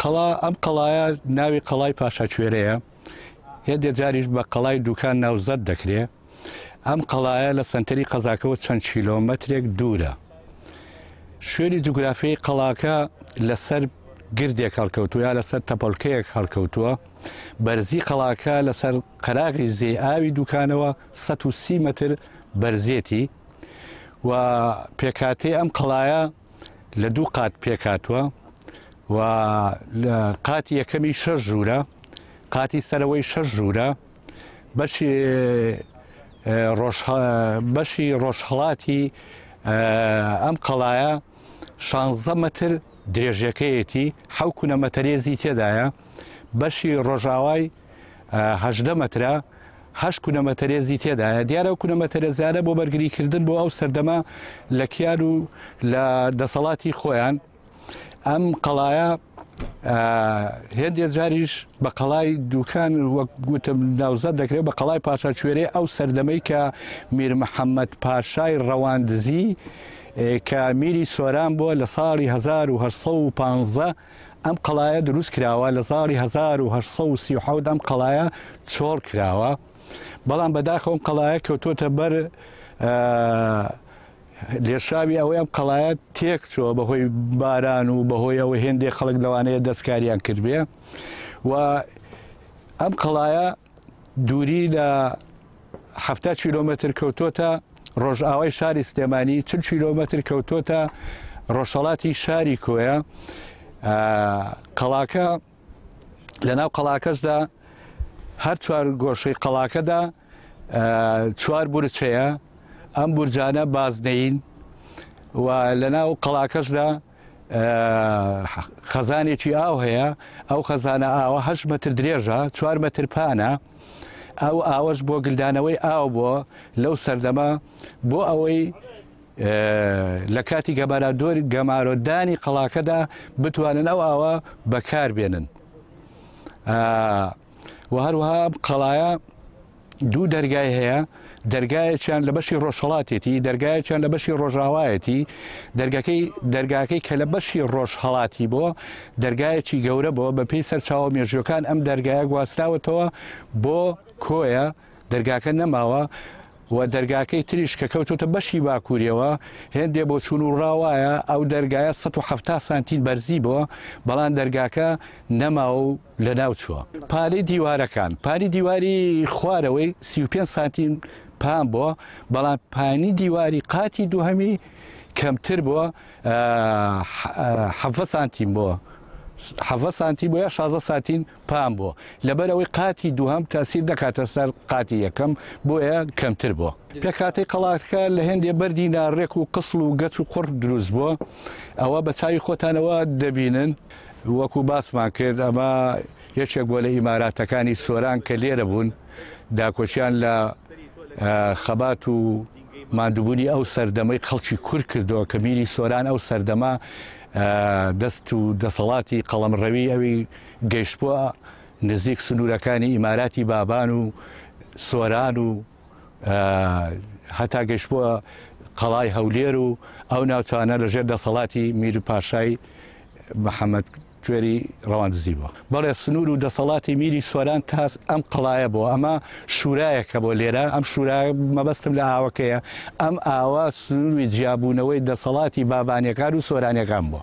قەڵا، ئەم قەڵایە ناوی قەڵای پاشا کوێرەیە، هێندێ جاریش بە قەڵای دووکان ناوزەد دەکرێ. ئەم قەڵایە لە سەنتەری قەزاکەوە چەند کیلۆمەترێک دوورە. شوێنی جوگرافیی قەڵاکە لە سەر گردێک هەڵکەوتووە یا لە سەر تەپۆلکەیەک هەڵکەوتووە. بەرزیی قەڵاکە لە سەر قەراغی زێی ئاوی دووکانەوە سەد و سی مەتر بەرزێتی و پێکهاتەی ئەم قەڵایە لە دوو قات پێکاتوە و لە قاتی یەکەمی شەش ژوورە قاتی سەرەوەی شەش ژوورە بەشی بەشی ڕۆژهڵاتی ئەم قەڵایە شانزە مەتر درێژەکەیەتی حەو کونەمەتەرێزی تێدایە بەشی ڕۆژاوای هەژدە مەترە، هەشت کونە مەتەرێزی تێدایە دیارە و کونە مەتەرێزانە بۆ بەرگریکردن بۆ ئەو سەردەمە لە کیار و لە دەسەڵاتی خۆیان ئەم قەڵایە هێندێ جاریش بە قەڵای دوکان وەک گوتم ناوزە دەکرێت بە قەڵای پاشا کوێرێ ئەو سەردەمەی کە میر محەممەد پاشای ڕەواندزی کە میری سۆران بووە لە ساڵی 1950 ئەم قەڵایە دروست کراوە لە زاڵی 1837 ئەم قەڵایە چۆڵ کراوە بەڵام بەداخە ئەم قەڵایە کەوتۆتە بەر لێشاوی ئەوەی ئەم قەڵایە تێک چۆ بەهۆی باران و بەهۆی ئەوە هێندێک خەڵک لەوانەیە دەستکاریان کردێ و ئەم قەڵایە دووری لە حەفتا کیلۆمەتر کەوتۆتە ڕۆژئاوای شاری سلێمانی چل کیلۆمەتر کەوتۆتە ڕۆژهڵاتی شاری کۆیە قەڵاکە لە ناو قەڵاکەشدا هەر چوار گۆشەی قەڵاکەدا چوار بورچەیە ئەم بورجانە بازنەین و لە ناو قەڵاکەشدا خەزانێکی ئاو هەیە ئەو خەزانە ئاوە هە مەتر درێژە چوار مەتر پانە ئەو ئاوەش بۆ گلدانەوەی ئاو بۆ لەو سەردەمە بۆ ئەوەی لە کاتی گەبارا دۆر گەمارۆدانی قەڵاکەدا بتوانن ئەو ئاوە بەکار بێنن. و هەروەها ئەم قەڵایە دوو دەرگای هەیە دەرگایەکیان لە بەشی ڕۆژهڵاتێتی دەرگایەکیان لە بەشی ڕۆژاوایەتی دەرگەکەی دەرگاکەی کە لە بەشی ڕۆژ هەڵاتی بۆ دەرگایەکی گەورە بۆ بە پێی سەرچاوە مێژوەکان ئەم دەرگایە گواستراوەتەوە بۆ کۆیە دەرگاکە نەماوە و دەرگاکەی تریش کە کەوتوتە بەشی باکووریەوە هێندێ بۆ چون و ڕاوایە ئەو دەرگایە 1970 سانتین بەرزی بۆ بەڵام دەرگاکە نەماوە و لە ناو چووە پانی دیوارەکان پانی دیواری خوارەوەی 35 سانتیم پان بۆ بەڵام پانی دیواری قاتی دووهەمی کەمتر بۆ حەڤە سانتیم بۆ حەڤە سانتی بۆ یا شازە ساتین پام بۆ لەبەر ئەوەی قاتی دووهەم تاسیر دەکاتە سەر قاتی یەکەم بۆیە کەمتر بۆ لە کاتی قەڵاتکە لە هێندێ بەردی ناڕێک و قسڵ و گەچ و قڕ دروست بۆ ئەوە بە چاوی خۆتانەوە دەبینن وەکو باسمان کرد ئەمە یەکێک بۆ لە ئیماراتەکانی سۆران کە لێرە بوون داکۆچیان لە خەبات و مادوبوونی ئەو سەردەمەی خەڵکی کور کردەوە کە میری سۆران ئەو سەردەمە دەست و دەسەڵاتی قەڵەمڕەوی ئەوی گەیشتبووە نزیک سنوورەکانی ئیماراتی بابان و سۆران و هەتا گەشتبووە قەڵای هەولێر و ئەو ناوچانە لەژێر دەسەڵاتی میر پاشای محەممەد کوێری ڕەوان دزی بووە بەڵێ سنوور و دەسەڵاتی میری سۆران تاس ئەم قەڵایە بۆ ئەمە شوورایەکە بۆ لێرە ئەم شوورا مەبەستم لە ئاوەکەیە ئەم ئاوا سنووری جیابوونەوەی دەسەڵاتی بابانەکان و سۆرانەکان بووە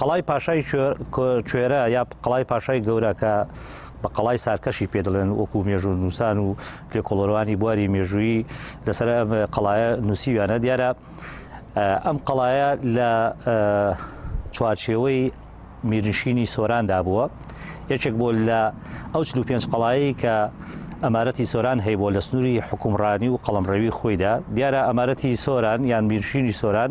قەڵای پاشای کوێرە یا قەڵای پاشای گەورە کە بە قەڵای سارکەشی پێ دەڵێن وەکو مێژوو نووسان و لێکۆڵەرانی بواری مێژووی لەسەر قەڵایە نووسیویانە دیارە ئەم قەڵایە لە چوارچێوەی میرنشینی سۆراندا بووە یەکێک بۆ لە ئەو چلو پێنج قەڵایی کە ئەمارەتی سۆران هەیە بۆ لە سنووری حکومڕانی و قەڵمڕەوی خۆیدا دیارە ئەمارەتی سۆران یان میرشینی سۆران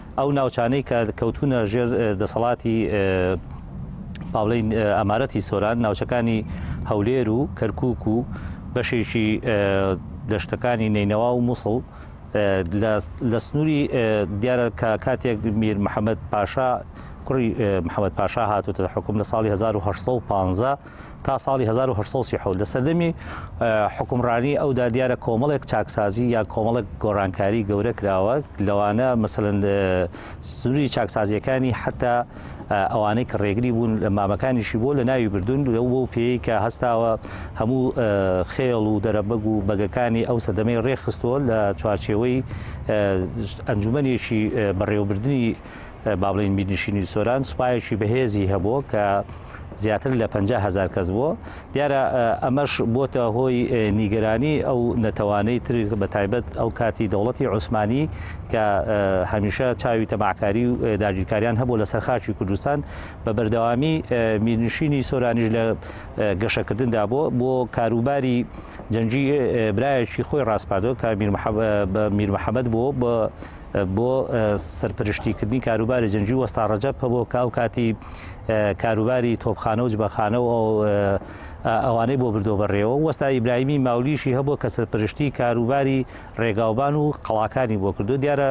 ئەو ناوچانەی کە کەوتونە ژێر دەسەڵاتی پاڵین ئەمارەتی سۆران ناوچەکانی هەولێر و کەرکک و بەشێکی دەشتەکانی نینەوا و مووسڵ لە سنووری دیارە کە کاتێک میر محەممەد پاشا کوڕی محەممەد پاشا هاتوتە حکوم لە ساڵی 1950 تا ساڵی هەزار و هەشت سەد و سی و حەوت لە سەردەمی حکومڕانی ئەودا دیارە کۆمەڵێک چاکسازی یا کۆمەڵک گۆڕانکاری گەورە کراوە لەوانە مەسەن سووری چاکسازیەکانی حتا ئەوانەی کە ڕێگری بوون لە مامەکانیشی بۆ لە ناوی بردون لەو بۆ پێی کە هەستاوە هەموو خێڵ و دەرەبەگ و بەگەکانی ئەو سەدەمەی ڕێخستووە لە چوارچێوەی ئەنجومەنێکی بەڕێوەبردننی با بڵێین میرنشینی سۆران سوپایەکی بەهێزی هەبوو کە زیاتر لە 50 هزار کەس بووە دیارە ئەمەش بۆتە هۆی نیگەرانی ئەو نەتەوانەی تر بە تایبەت ئەو کاتی دەوڵەتی عوسمانی کە هەمیشە چاوی تەماعکاری و داگیرکاریان هەبوو لە سەرخاچی کوردستان بە بەردەوامی میرنشینی سۆرانیش لە گەشەکردندا بۆ بۆ کاروباری جەنجی برایەکی خۆی ڕاستپادۆ کە میر محەممەد بۆ بە بۆ سەرپەرشتیکردنی کاروباری جەنگی وەستا ڕەجەب هەبوو کە ئەو کاتی کاروباری تۆپخانە و جبەخانە و ئەوانەی بۆ بردۆ بەڕێەوە وەستا ئیبراهیمی ماولیشی هەبوو کە سەرپەرشتی کاروباری ڕێگاوبان و قەڵاکانی بۆ کردو دیارە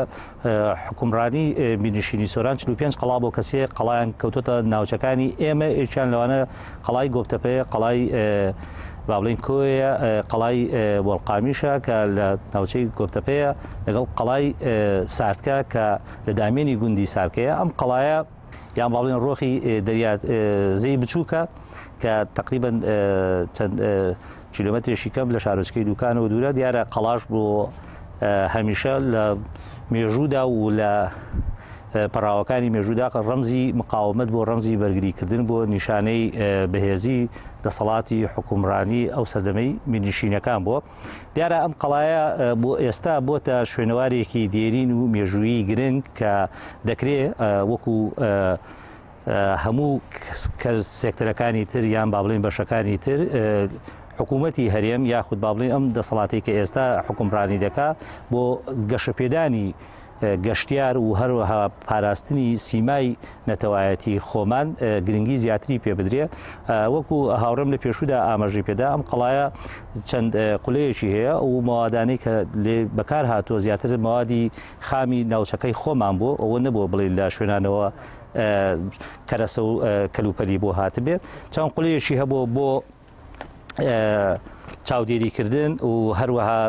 حکومڕانی بینشینی سۆران 45 قەڵا بۆ کەسێ قەڵایان کەوتۆتە ناوچەکانی ئێمە ئێکیان لەوانە قەڵای گۆپتەپەیە قەڵای بابلین کۆیە قەڵای بۆڵقامیشە کە لە ناوچەی گۆپتەپەیە لەگەڵ قەڵای ساردکە کە لە دامێنی گوندی سارکەیە ئەم قەڵایە یان باڵێن ڕۆخی دەریات زەی بچووکە کە تقریبن چەند کیلۆمەترێکی کەم لە شارۆچکەی دوکانەوە دوورە دیارە قەڵاش بۆ هەمیشە لە مێژوودا و لە پەراوەکانی مێژوودا ڕەمزی مقاومت بۆ ڕەمزی بەرگریکردن بۆ نیشانەی بەهێزی دەسەڵاتی حکومڕانی ئەو سەردەمەی مینیشینەکان بووە دیارە ئەم قەڵایە بۆ ئێستا بۆتە شوێنەوارێکی دێرین و مێژوویی گرنگ کە دەکرێت وەکو هەموو سێکتەرەکانی تر یان با بڵین بەشەکانی تر حکوومەتی هەرێم یاخود با بڵین ئەم دەسەڵاتی کە ئێستا حکومڕانی دەکا بۆ گەشەپێدانی گەشتیار و هەروەها پاراستنی سیمای نەتەوایەتی خۆمان گرنگی زیاتری پێ بدرێ وەکو هاوڕێم لە پێشودا ئاماژی پێدا ئەم قڵایە چەند قولەیەکی هەیە و موادانەی کە لێ بەکار هاتووە زیاتر موادی خامی ناوچەکەی خۆمان بۆ ئەوە نەبووە بڵێ لە شوێنانەوە کەرەسە و کەلوپەلی بۆ هاتبێت چەند قلەیەشی هەبوو بۆ چاودێریکردن و هەروەها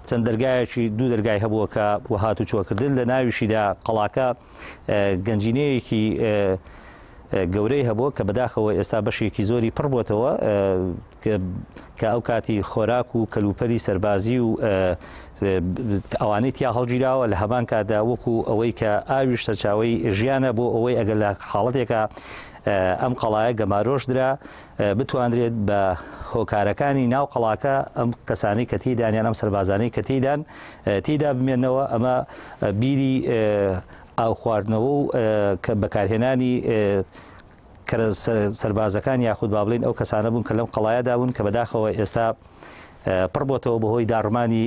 چەند دەرگایەکی دوو دەرگای هەبووە کە وە هات و چۆکردن لە ناویشیدا قەڵاکە گەنجینەیەکی گەورەی هەبوو کە بەداخەوە ئێستا بەشێکی زۆری پڕبووتەوە کە ئەو کاتی خۆراک و کەلوپەری سەربازی و ئەوانەی تیا هەڵگیراوە لە هەمان کاتدا وەکو ئەوەی کە ئاویش سەرچاوەی ژیانە بۆ ئەوەی ئەگەر لە حاڵەتێکە ئەم قەڵایە گەمارۆش درا بتواندرێت بە هۆکارەکانی ناو قەڵاکە ئەم کەسانی کە تیدانیان ئەم سەربازانەی کە تیدان تیدا بمێنەوە ئەمە بیری ئاو خواردنەوە و کە بەکارهێنانی کەرە سەربازەکان یاخود با بڵێن ئەو کەسانە بوون کە لەم قەڵایەدا بوون کە بەداخەوە ئێستا پڕ بۆتەوە بەهۆی داڕمانی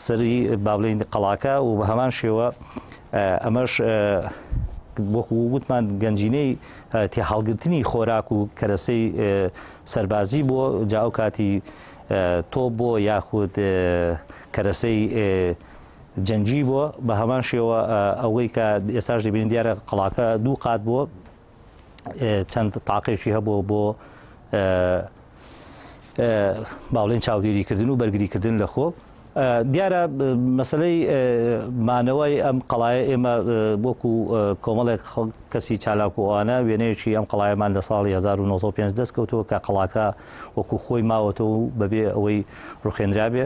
سەری با بڵین قەڵاکە و بە هەمان شێوە ئەمەش وەکو وتمان گەنجینەی تێ هەڵگرتنی خۆراک و کەرەسەی سەربازی بۆ جاو کاتی تۆ بۆ یاخود کەرەسەی جەنگی بووە، بە هەمان شێوە ئەوەی کە ئێستاش دەبینین دیارە قەڵاکە دوو قات بووە چەند تاقێکی هەبوو بۆ باڵێن چاودێریکردن و بەرگریکردن لە خۆ دیارە مەسلەی مانەوەی ئەم قەڵایە ئێمە وەکو کۆمەڵێک کەسی چالاکوانە وێنەیەکی ئەم قەڵایەمان لە ساڵی 1950 دەستکەوتەوە کە قەڵاکە وەکو خۆی ماوەتەوە و بەبێ ئەوەی ڕوخێنرابێ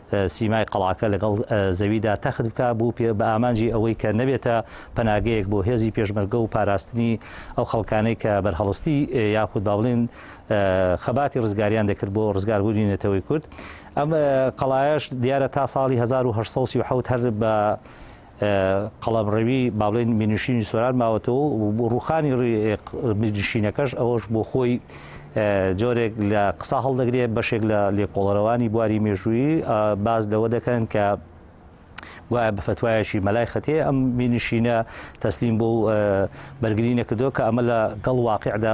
سیمای قەڵاکە لەگەڵ زەویدا تەخت بکا بوو پێ بە ئامانجی ئەوەی کە نەبێتە پەناگەیەک بۆ هێزی پێشمەرگە و پاراستنی ئەو خەڵکانەی کە بەرهەڵستی یاخود با بڵێن خەباتی ڕزگاریان دەکرد بۆ ڕزگاربوونی نەتەوەی کورد ئەم قەڵایش دیارە تا ساڵی 1970 هەر بە قەڵەمڕەوی با بڵێن مینشینی سۆران ماوەتەوە و ڕوخانی مینشینەکەش ئەوەش بۆ خۆی جۆرێک لە قسە هەڵدەگرێت بەشێک لە لێکۆڵەرەوانی بواری مێژوویی باز لەوە دەکەن کە گوایە بە فتوایەکی مەلای خەتێ ئەم مینشینە تەسلیم بۆ بەرگری نەکردەوە کە ئەمە لە گەڵ واقعدا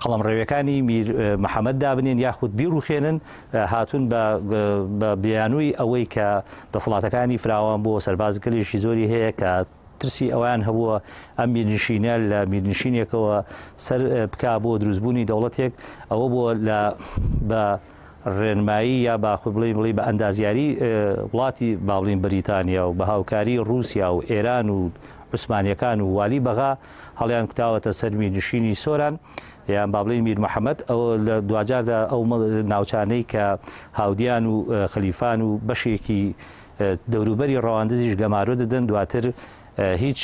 قەڵەمڕەویەکانی میر محەمەد دابنێن یاخود بیڕوخێنن هاتون بە بیانووی ئەوەی کە دەسەڵاتەکانی فراوان بۆ سەربازگەلیشی زۆری هەیە کە ترسی ئەویان هەبووە ئەم میرنشینە لە میرنشینێکەوە سەر بکا بۆ دروستبوونی دەوڵەتێک ئەوە بۆ لە بە ڕێنمایی یا باخود بڵی بڵی بە ئەندازیاری وڵاتی باڵین بریتانیا و بە هاوکاری رووسیا و ئێران و عوسمانیەکان و والی بەغا هەڵیان کوتاوەتە سەر میرنشینی سۆران یان با بڵێین میر محەممەد ئەوە لە دواجاردا ئەو ناوچانەی کە هاودیان و خەلیفان و بەشێکی دەوروبەری ڕەواندزیش گەمارۆ دەدەن دواتر هیچ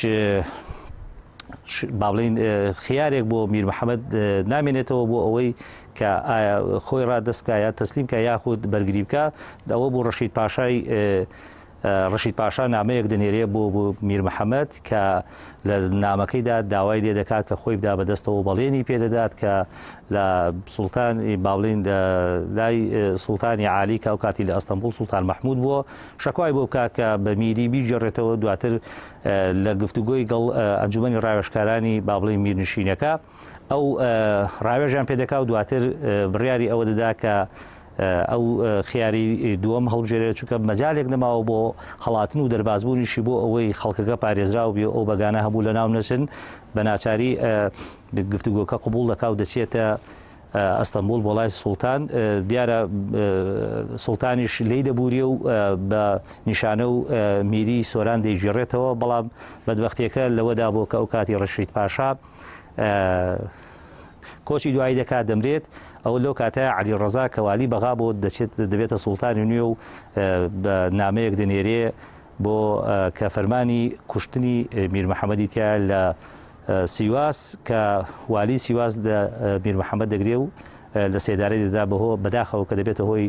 با بڵین خیارێک بۆ میر محەممەد نامێنێتەوە بۆ ئەوەی کە خۆی ڕادستکە یا تەسلیمکە یاخود بەرگری بکە داوە بۆ ڕەشید پاشای ڕەشید پاشا نامەیەک دەنێرێ بۆ بۆ میر محەمەد کە لە نامەکەیدا داوای لێ دەکات کە خۆی بدا بەدەستەوە بەڵێنی پێدەدات کە لە سوڵتان باڵین لای سوڵتانی عالی کە ئەو کاتی لە ئەستەمبول سوڵتان مححمود بووە شکوای بۆ بکات کە بە میری بیجێڕێتەوە دواتر لە گفتوگۆی گەڵ ئەنجومی ڕاوێشکارانی بابڵی میرنشینەکە ئەو ڕاوێژیان پێ دەکا و دواتر بڕیاری ئەوە دەدا کە ئەو خیاری دووەم هەڵبژێرێت چونکە مەجالێک نەماوە بۆ هەڵاتن و دەربازبوونیشی بۆ ئەوەی خەڵکەکە پارێزراو بێ ئەو بەگانە هەبوو لە ناو نەچن بە ناچاری گفتوگۆکە قوبول دەکا و دەچێتە ئەستەمبول بۆ لای سوڵتان دیارە سوڵتانیش لی دەبووری و بە نیشانە و میری سۆران دەیگیڕێتەوە بەڵام بەدبختیەکە لەوەدا بۆ کە ئەو کاتی ڕشید پاشا کۆچی دوایی دەکات دەمرێت ئەو لەو کاتە علی ڕزا کەوالی بەغا بۆ دەچێت دەبێتە سوڵتانی نوێ و بە نامەیەک دەنێرێ بۆ کە فەرمانی کوشتنی میر محەممەدی تیا لە سیواس کە والی سیواس میر محەممەد دەگرێ و لە سێدارەی دەدا بەهۆ بەداخەوە کە دەبێتە هۆی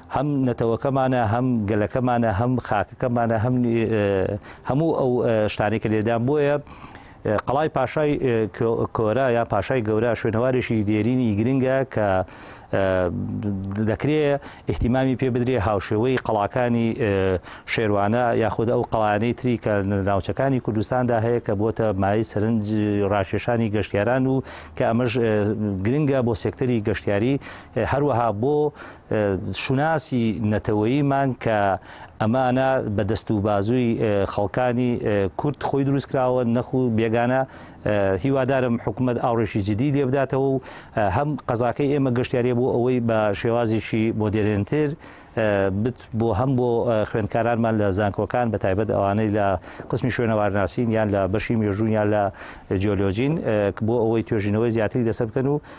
هەم نەتەوەکەمانە هەم گەلەکەمانە هەم خاکەکەمانە هەم هەموو ئەو شتانەی کە لێدان بۆیە قەڵای پاشای کۆرە یا پاشای گەورە شوێنەوارێکی دێرینی گرنگە کە دەکرێ احتیمامی پێ بدرێ هاوشێوەی قەڵاکانی شێروانە یاخود ئەو قەڵانەی تری کە ناوچەکانی کوردستاندا هەیە کە بۆتە مای سەرنج ڕاکێشانی گەشتیاران و کە ئەمەش گرنگە بۆ سێکتەری گەشتیاری هەروەها بۆ شوناسی نەتەوەییمان کە ئەمانە بە دەست و بازووی خەڵکانی کورد خۆی دروست کراوە نەخو بێگانە هیوادارم حکوومەت ئاڕێکی جدی لێبداتەوە و هەم قەزاکەی ئێمە گەشتیارە بۆ ئەوەی بە شێوازێکی مۆدرێنتر بت بۆ هەم بۆ خوێندکارانمان لە زانکۆکان بە تایبەت ئەوانەی لە قسمی شوێنەوارناسین یان لە بەشی مێژوون یان لە جیۆلۆژین بۆ ئەوەی توێژینەوەی زیاتری لەسەر بکەن و